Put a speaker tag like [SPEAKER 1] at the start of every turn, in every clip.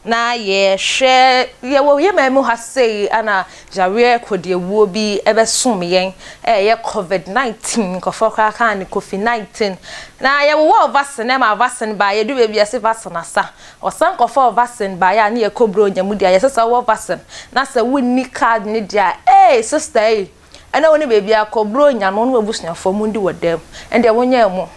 [SPEAKER 1] Na yɛhwɛ, yɛwɔ yɛn man mu ha sei na yareɛ kɔdiawuo bi bɛsomm yɛn, ɛyɛ covid 19, nkurɔfoɔ koraa kaa no kofi 19, na yɛwowɔɔ vaccine ma vaccine baeɛ, yɛduru baabi a yɛse vaccine asa, Ɔsan kɔfɔɔ vaccine baeɛ a ne yɛ kɔ bronya mu deɛ a yɛsɛsɛ wowɔ vaccine na sɛ wonni card no deɛ a eei sister ei ɛnɛ wone baabiara kɔ bronya no wone wabusuafoɔ mondi wɔ dɛm ɛndeɛ wonyɛ ɛmo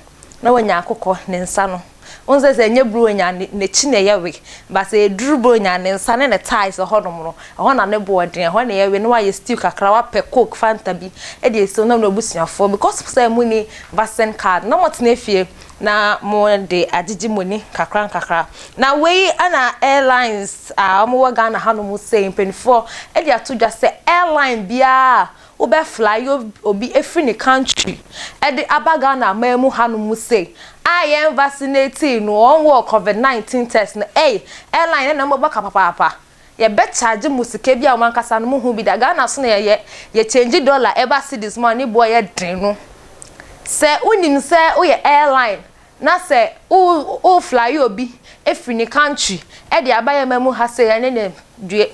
[SPEAKER 1] na wanya akokɔ ne nsa no wohu sɛ sɛ ɛnyɛ bronya ne nakyi na ɛyɛ we but sɛ ɛduru bronya ne nsa ne ne thighs ɛhɔ nom no ɛhɔ na ne boɔ den ɛhɔ na ɛyɛ we na wayɛ stew kakra wapɛ coke fanta bi ɛde asi hɔ na wone wabusuafoɔ because sɛ monni vaccine card na motena fie na mo de agyegye mo ani kakra nkakra. Na wei na airlines a wɔn wɔ Ghana ha nom sɛ mpanyinfoɔ de ato dwa sɛ airline biara a wo bɛ fly yɛ obi efiri ne country ɛde aba Ghana aman mu ha nom sɛ a yɛn vacinate no wɔn wɔ covid 19 test no ɛy airline no na wɔn bɛka papaapa Yɛbɛ charge mo sika bi a ɔmo ankasa no mo hu bi da. Ghana so na yɛyɛ, yɛ change dollar ɛba cedis mu a ne boɔ yɛ den no. Sɛ wo nim sɛ wo yɛ airline na sɛ wo wo fly obi firi ne country ɛde aba yɛ ma mu ha sei ɛne ne due.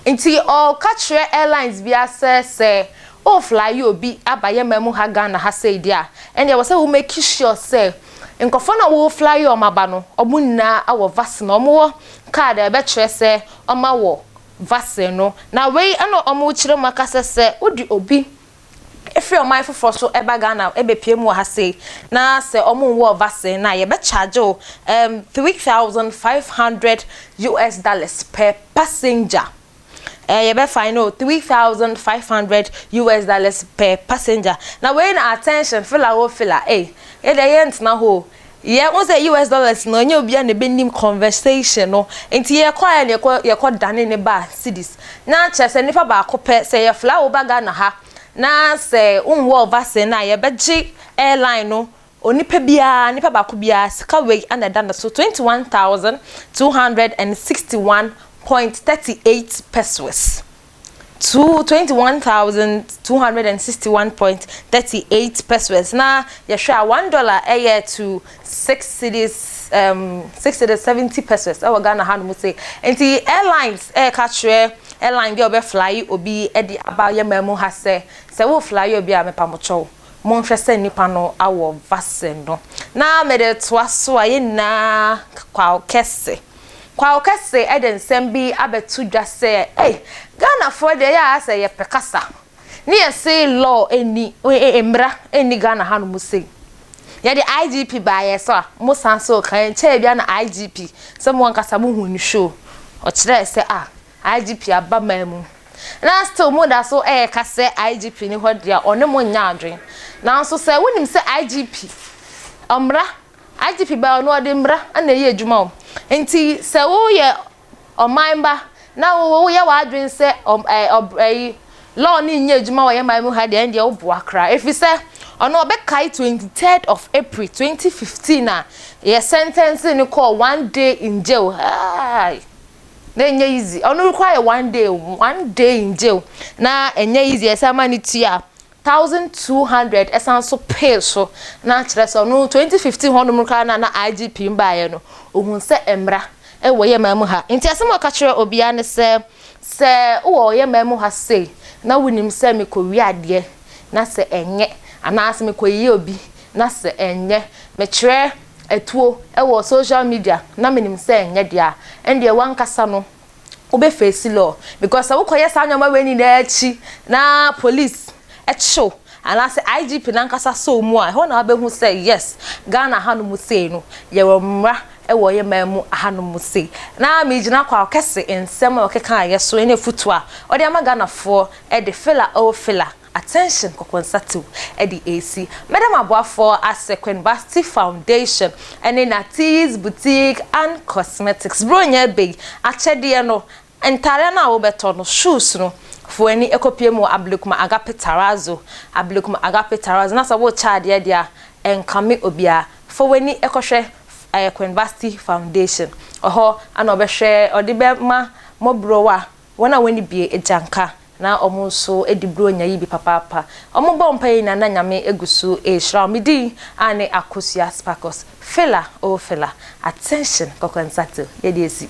[SPEAKER 1] Nti ɔ ka kyerɛ airlines bia sɛ sɛ wo fly obi aba yɛ ma mu ha Ghana ha sei deɛ a ɛne ɛwɔ sɛ wo make sure sɛ nkorɔfoɔ no a wo fly ɔmo aba no ɔmo nyinaa wɔ vaccine, ɔmo wɔ card a ɛbɛkyerɛ sɛ ɔma wɔ vaccine no, na wei na wɔkyerɛ mu aka sɛ sɛ wode obi firi ɔman foforɔ so ba Ghana bɛpue mu wɔ ha sei na sɛ wɔnwɔɔ vaccine no a, yɛbɛcharge wo um, 3,500 US dollars per passenger. eh, yɛbɛfa you know three thousand five hundred US dollars per passenger na wei na attention fila wo fila eh yɛ deɛ yɛ ntena hɔ yɛ n sɛ US dollars no ɛnyɛ obiara na ɛbɛnim conversation no nti yɛ kɔ ayɛ na yɛkɔ yɛkɔ dane ne ba cities na kyerɛ sɛ nipa baako pɛ sɛ yɛ fila wo ba Ghana ha na sɛ wonwɔ vaccine na yɛbɛgye airline no Onipa biara, nipa baako biara, sika wei na ɛda ne so, twenty one thousand two hundred and sixty one point thirty eight pesewas, two, twenty one thousand two hundred and sixty one point thirty eight pesewas, na yɛhwɛ a, one dollar yɛ to six cedis, um, six cedis seventy pesewas wɔ Ghana hanom sei. Nti airlines ɛreka kyerɛ airline bi a ɔbɛflye obi de aba yɛn man mu ha sɛ, sɛ woflye obi a, mepamokyɛw, Monhwɛ sɛ nnipa no awɔ vase no. Na mede toa so a, yɛn nyinaa Kwawo Kɛse. Kwawo Kɛse de nsɛm bi abɛto dwa sɛ, ei, Ghanafoɔ deɛ ɛyɛ a sɛ yɛpɛ kasa ne yɛse law nni, mmara nni Ghana hanom sei. Yɛde IGP baeɛ so a, mosan so reka. Ɛnkyɛɛ biara na IGP, sɛ mo ankasa mohuu ne show, ɔkyerɛɛ sɛ, ah, IGP aba man mu na still mo da so ɛɛka sɛ IGP ni hɔ deɛ a ɔne mo nyɛ adwen nanso sɛ wo nim sɛ IGP ɔmmra IGP bɛɛ ɔno ɔde mmra ɛna ɛyɛ adwuma o nti sɛ wo yɛ ɔman ba na wo wo yɛ w'adwen sɛ ɔm ɛɛ ɔb ɛyi law ne nyɛ adwuma wɔ yɛ man mu ha deɛ ɛndeɛ wo boa koraa ɛfiri sɛ ɔno ɔbɛkae 23rd of April 2015 a yɛ sentence ne kɔɔ one day in jail haa. na ɛnyɛ easy ɔno rekɔ ayɛ one day one day in jail na ɛnyɛ easy ɛsɛ ama ne tua thousand two hundred ɛsan so pay so na akyerɛ sɛ ɔno twenty fifteen hɔ nom koraa na na igp mbaayɛ no ohun sɛ mmra ɛwɔ yɛ maa mu ha nti asɛm ɔka kyerɛ obiara ne sɛ sɛ wɔ yɛ maa mu ha sei na wonim sɛ mekɔ wi adeɛ na sɛ ɛnyɛ anaasɛ mekɔ yiyi obi na sɛ ɛnyɛ mekyerɛ atuo wɔ social media na menim sɛ nyɛ dea a, ɛndeɛ wankasa no wobɛ face law because sɛ wokɔ yɛ saa nnoɔma wei nyinaa akyi na police kye wo anaasɛ IGP nankasa sɔ wo mu a, ɛhɔ na wabɛhu sɛ yes Ghana ha nom sei no yɛwɔ mmra wɔ yɛ man mu ha nom sei. Na megyina Kwao Kese nsɛm a ɔkekaeɛ so ne afutuo a ɔde ama Ghanafoɔ de filler oh filler. Attention Kokonsatew ɛde resi Madam Aboafoɔ ase Queen Basti Foundation ɛne Natie's Boutique and Cosmetics Buronya bɛyi akyɛdeɛ no Ntaadeɛ no a wobɛtɔ no Shoes no Fa w'ani kɔpue mu wɔ Ablekuma Agape Terrazzo Ablekuma Agape Terrazzo Na sɛ worekyɛ adeɛ deɛ a ɛnkame obiara Fa w'ani kɔhwɛ ɛyɛ Queen Basti Foundation Ɛhɔ na ɔbɛhwɛ ɔde bɛma Mmɔborɔwa Wɔn a wɔnni bi agyanka na wɔn nso di Buronya yi bi papaapa. Wɔbɔ mpaeɛ nyinaa na Nyame gu so rehyira wɔn. Me din aane Akosua Sparkles. Fela oh Fela, attention kɔkɔnsate o, yɛde asi.